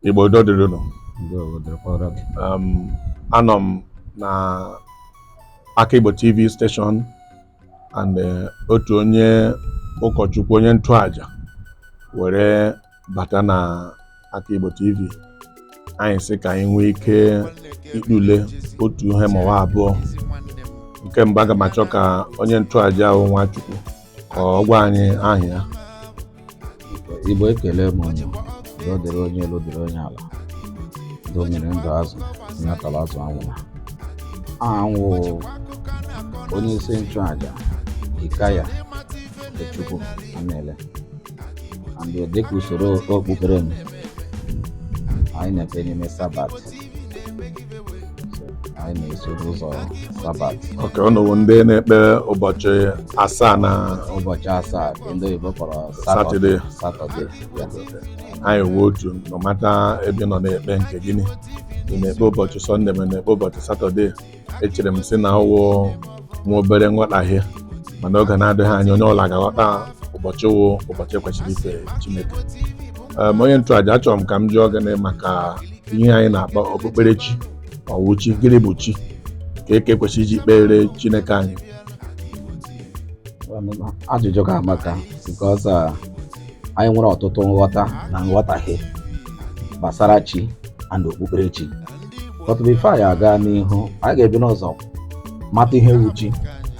Igbo udo dịrị unu um, anọ m na aka Igbo TV station and uh, otu onye ụkọchukwu onye ntụaja were bata na aka Igbo TV anyị sị ka anyị nwee ike ikpule otu ihe ma ọ wụ abụọ nke mbụ aga m achọ ka onye ntụaja ahụ Nwachukwu ka ọ gwa anyị aha ya Igbo ekele m unu udo dịrị onye elu dịrị onye ala ndụ mmiri ndụ azụ mmiri atala azụ anwụla aha m wụ onye isi nchụaja Ikaya Chukwu Anele and dịka usoro okpukpere m anyị na-ekpe n'ime sabat anyị na-esoro ụzọ sabat okay unu wụ ndị na-ekpe ụbọchị asaa na ụbọchị asaa nke ndị oyibo kpọrọ satọde satọde anyị wee otu nọmata ebe unu na-ekpe nke gịnị ị na-ekpe ụbọchị sọnde ma na-ekpe ụbọchị satọde echere m sị na ọ wụ nwa obere nghọtahie mana oge na-adịghị anya onye ọwụla ga-aghọta ụbọchị wụ ụbọchị e kwesịrị ife Chineke ma onye nchụaja achọrọ m ka m jụọ gị maka ihe anyị na-akpọ okpukperechi ọ wụ chi gịnị bụ chi kee ka e kwesịrị iji kpere Chineke anyị ajụjụ gị amaka because uh, anyị nwere ọtụtụ nghọta na nghọtahie gbasara chi and okpukperechi but before anyị aga n'ihu anyị ga-ebu ụzọ mata ihe wụ chi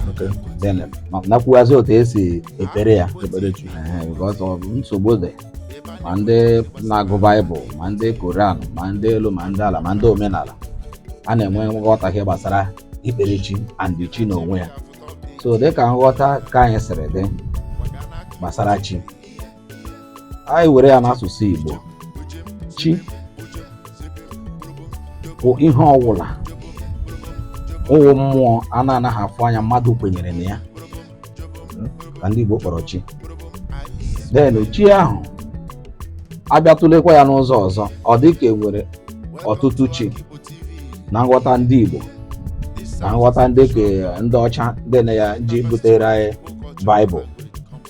Okay. then ma- na-ekwuwazi otu esi ekpere ya Ekpere chi. Ee, because of nsogbu dị ma ndị na-agụ baịbụl ma ndị koran ma ndị elu ma ndị ala ma ndị omenala a na-enwe nghọtahie gbasara ikpere chi and chi n'onwe ya so dịka nghọta nke anyị siri dị gbasara chi anyị were ya n'asụsụ Igbo chi bụ ihe ọwụla wụ mmụọ a na-anaghị afụ anya mmadụ kwenyere na ya ka ndị Igbo kpọrọ chi then chi ahụ a bịa tụlekwa ya n'ụzọ ọzọ ọ dị ka e nwere ọtụtụ chi na nghọta ndị Igbo na nghọta ndị nke ndị ọcha ndị na ya ji butere anyị baịbụl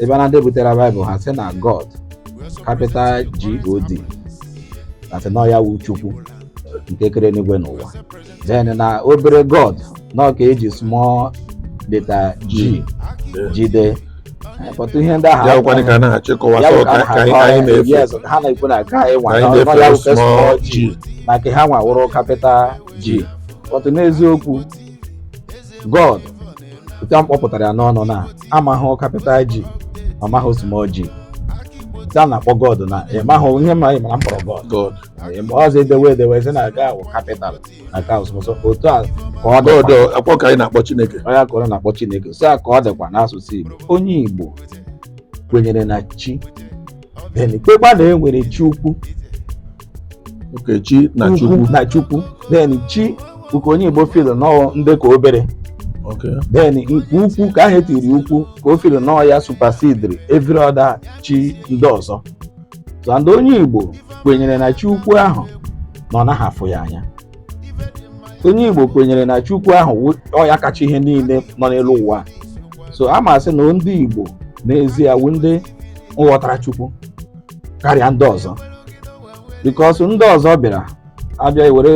ebe na ndị butere baịbụl ha sị na God capital G O D sị na ọ ya wụ Chukwu nke kere enigwe na ụwa then na obere god na ọ nke e ji small letter g ji dee Eh, but ihe ndị ahụ ya bụkwanị ka a na-achịkọwa ya sị ọ bụ ka ka anyị ka anyị na-efe yes ha na-ekwu na nke anyị nwa ka anyị na ọ ya na-efe wụ small small g g na nke ha nwa wụrụ capital g but n'eziokwu God otu a m kpọpụtara ya n'ọnụ na amahụ capital G ọ mahụ small G otu a na-akpọ God na ị maghị ihe ma ị mara m kpọrọ God God. Ị ma ọzọ e dewe e dewe sị na ka a wụ capital na ka ọsọ otu a ka ọ dị God akpọ ka anyị na-akpọ Chineke. onye ka ọ na-akpọ Chineke so a ka ọ dịkwa n'asụsụ Igbo onye Igbo kwenyere na chi then kwekwa na e nwere chi ukwu Okay chi na Chukwu na Chukwu then chi nke onye Igbo feel na ọ ndị ka obere then nke ukwu ka ahụ e tiri ukwu ka o feel na ọ ya supersederi every other chi ndị ọzọ so ndị onye Igbo kwenyere na chi ukwu ahụ na ọ naghị afụ ya anya onye Igbo kwenyere na chi ukwu ahụ ọ ya kacha ihe niile nọ n'elu ụwa so a ma sị na ndị Igbo n'ezie wụ ndị nghọtara Chukwu karịa ndị ọzọ because ndị ọzọ bịara abịa were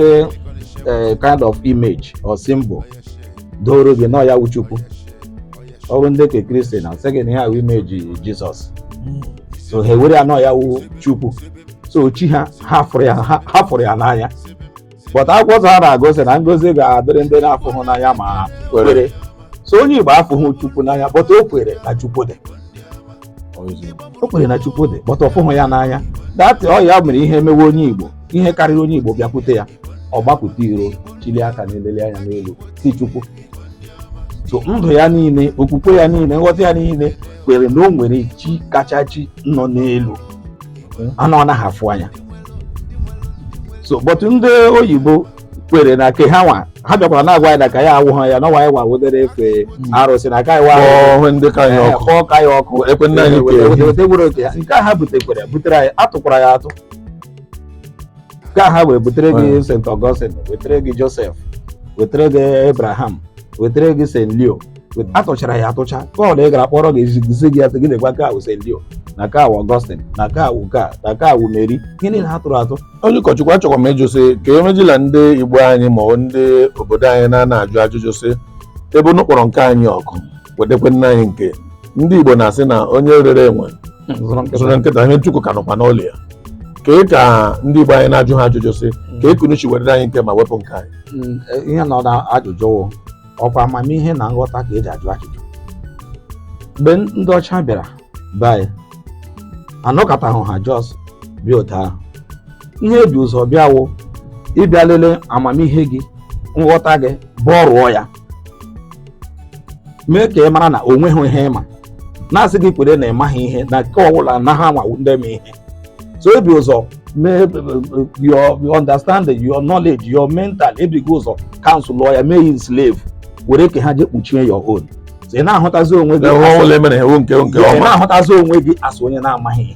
eh, kind of image or symbol doro gị na ọ ya wụ Chukwu ọrụ ndị nke Christian sị gị na ihe ahụ image Jesus so ha ewere ya na ọ ya wụ chukwu so chi ha ha fụrụ ya ha ha fụrụ ya n'anya but akwụkwọ nsọ ha na-agụ sị na ngozi ga-adịrị ndị na-afụhụ n'anya ma kwere so onye igbo afụhụ chukwu n'anya but o kwere na chukwu dị o kwere na chukwu dị but ọ fụhụ ya n'anya that ọ ya mere ihe mewe onye igbo ihe karịrị onye igbo bịakwute ya ọ gbapụta iro chili aka na-eleli anya n'elu sị chukwu so ndụ ya niile okwukwe ya niile nghọta ya niile kwere na o nwere chi kacha chi nọ n'elu a na ọ naghị afụ anya so but ndị oyibo kwere na ke ha nwa ha bịakwara na-agwa anyị na ke anyị awụhụ ya na ọwa anyị wa wodere efe hmm. arụsị na ka wa ọhụ ndị ka ya ọkụ kpọọ ke anyị ọkụ ekwe nna anyị kwere wete gwere oke ya nke ha butekwere butere anyị atụkwara ya atụ nke ha wee butere gị hmm. St. Augustine wetere gị Joseph wetere gị Abraham wetere gị St. Leo atụchara ya atụcha kọl ị gara kpọrọ gị ezizi gị atụ gị na-agwa ka a wụ St. Leo na ka a wụ Augustine na ka a wụ ka na ka a wụ Mary ihe niile ha tụrụ atụ onye ụkọchukwu achọkwa m ịjụ sị ka e mejila ndị igbo anyị ma ọ ndị obodo anyị na-ana ajụ ajụjụ sị ebe unu kpọrọ nke anyị ọkụ wetekwe nna anyị nke ndị igbo na-asị na onye rere enwe zụrụ nkịta zụrụ nkịta ihe ntukwu ka nọkwa n'ụlọ ya kee ka ndị igbo anyị na-ajụ ha ajụjụ sị kee ka unu ji wetere anyị nke ma wepụ nke anyị Mm, ihe nọ na ajụjụ wụ ọkwa amamihe na nghọta ka e ji ajụ ajụjụ mgbe ndị ọcha bịara be anyị anọkatahụ ha just bịa otu ahụ ihe e bi ụzọ bịa wụ ịbịa lelee amamihe gị nghọta gị gbarụọ ya mee ka ị mara na o nweghị ihe ị ma na-asị gị kwere na ị maghị ihe na nke ọbụla na ha nwa wụ ndị ma ihe so e bu ụzọ mee your your understanding your knowledge your mental e bugo ụzọ cancel-ụọ ya mee his slave were nke ha je kpuchie your own so ị na-ahụtazi onwe gị enwe as- ọnwụla emere ha ewu nke nke ị ọma na-ahụtazi onwe gị as onye na-amaghị ihe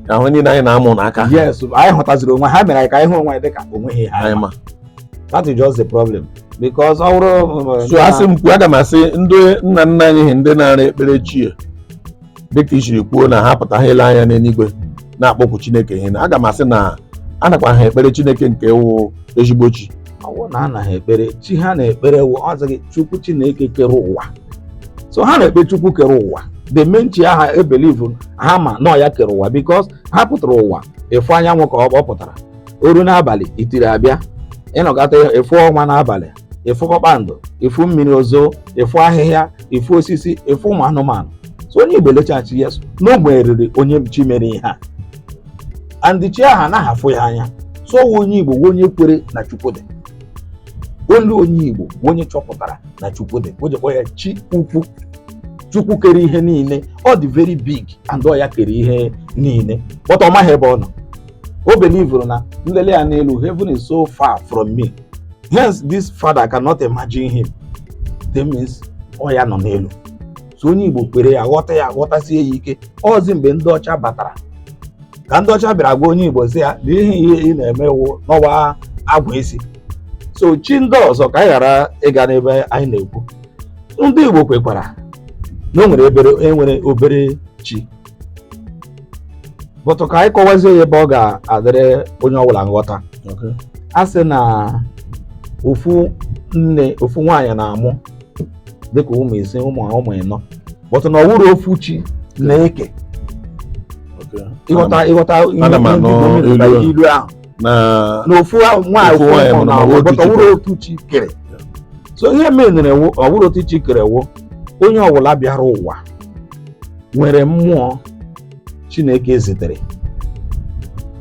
ahụ niile anyị na-amụ n'aka ha yes anyị hụtaziri onwe ha mere anyị ka anyị hụ onwe anyị dịka o nweghị ihe anyị ma that is just the problem because ọ bụrụ so a sị m kwuo aga m asị ndị nna nna anyị ha ndị na-ara ekpere chi dịka i siri kwuo na ha pụta ha ele anya n'eluigwe na-akpọkwu chineke ihe na aga m asị na a nakwa ha ekpere chineke nke wụ ezigbo chi ọwụ na anaghị ekpere chi ha na-ekpere wụ ọ sịghị chukwu chineke kere ụwa so ha na-ekpe chukwu kere ụwa the main chi ahụ e believe-u ha ma na ọ ya kere ụwa because ha pụtara ụwa ịfụ anyanwụ ka ọ ọ pụtara o ruo n'abalị itiri abịa ị nọkata ịfụ ọnwa n'abalị ịfụ kpakpando ịfụ mmiri ozo ịfụ ahịhịa ịfụ osisi ịfụ ụmụ anụmanụ so onye igbo elechaa sị yes na o nweriri onye chi mere ihe a and chi ahụ anaghị afụ ya anya so ọ wụ onye igbo wụ onye kwere na chukwu dị olu onye igbo wụ onye chọpụtara na chukwu dị o ji kpọ ya chi ukwu chukwu kere ihe niile ọ dị very big and ọ ya kere ihe niile but ọ maghị ebe ọ nọ o believe-uru na nlele ya n'elu heaven is so far from me hence this father cannot imagine him that means ọ ya nọ n'elu so onye igbo kwere ya ghọta ya ghọtasie ya ike ọzi mgbe ndị ọcha batara ka ndị ọcha bịara gwa onye igbo sị ya na ihe ihe ị na-eme wụ na ọ wụ agwụ isi so chi ndị ọzọ ka anyị ghara ịga n'ebe anyị na-ekwu ndị igbo kwekwara na o nwere obere e nwere obere chi but ka anyị kọwazie ya ebe ọ ga-adịrị onye ọbụla nghọta Okay. a sị na ofu nne ofu nwaanyị na-amụ dịka ụmụ ise ụmụ ụmụ ịnọ but na ọ wụrọ ofu chi na-eke Okay. ị ghọta ị ghọta Ana m anụ ilu ilu ahụ na na ofu ahụ nwaanyị Ofu ofu nwaanyị mụrụ mụrụ na na ọ wụ ọ wụrọ ọ wụrọ otu chi kere so ihe menere wụ ọ wụrọ otu chi kere wụ onye ọbụla bịara ụwa nwere mmụọ chineke zitere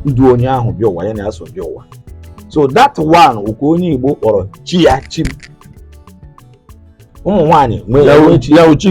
na-edu onye ahụ bịa ụwa ya na ya so bịa ụwa so that one wụ ka onye igbo kpọrọ chi ya chi m ụmụ nwaanyị nwere ya o nwe chi ya uchi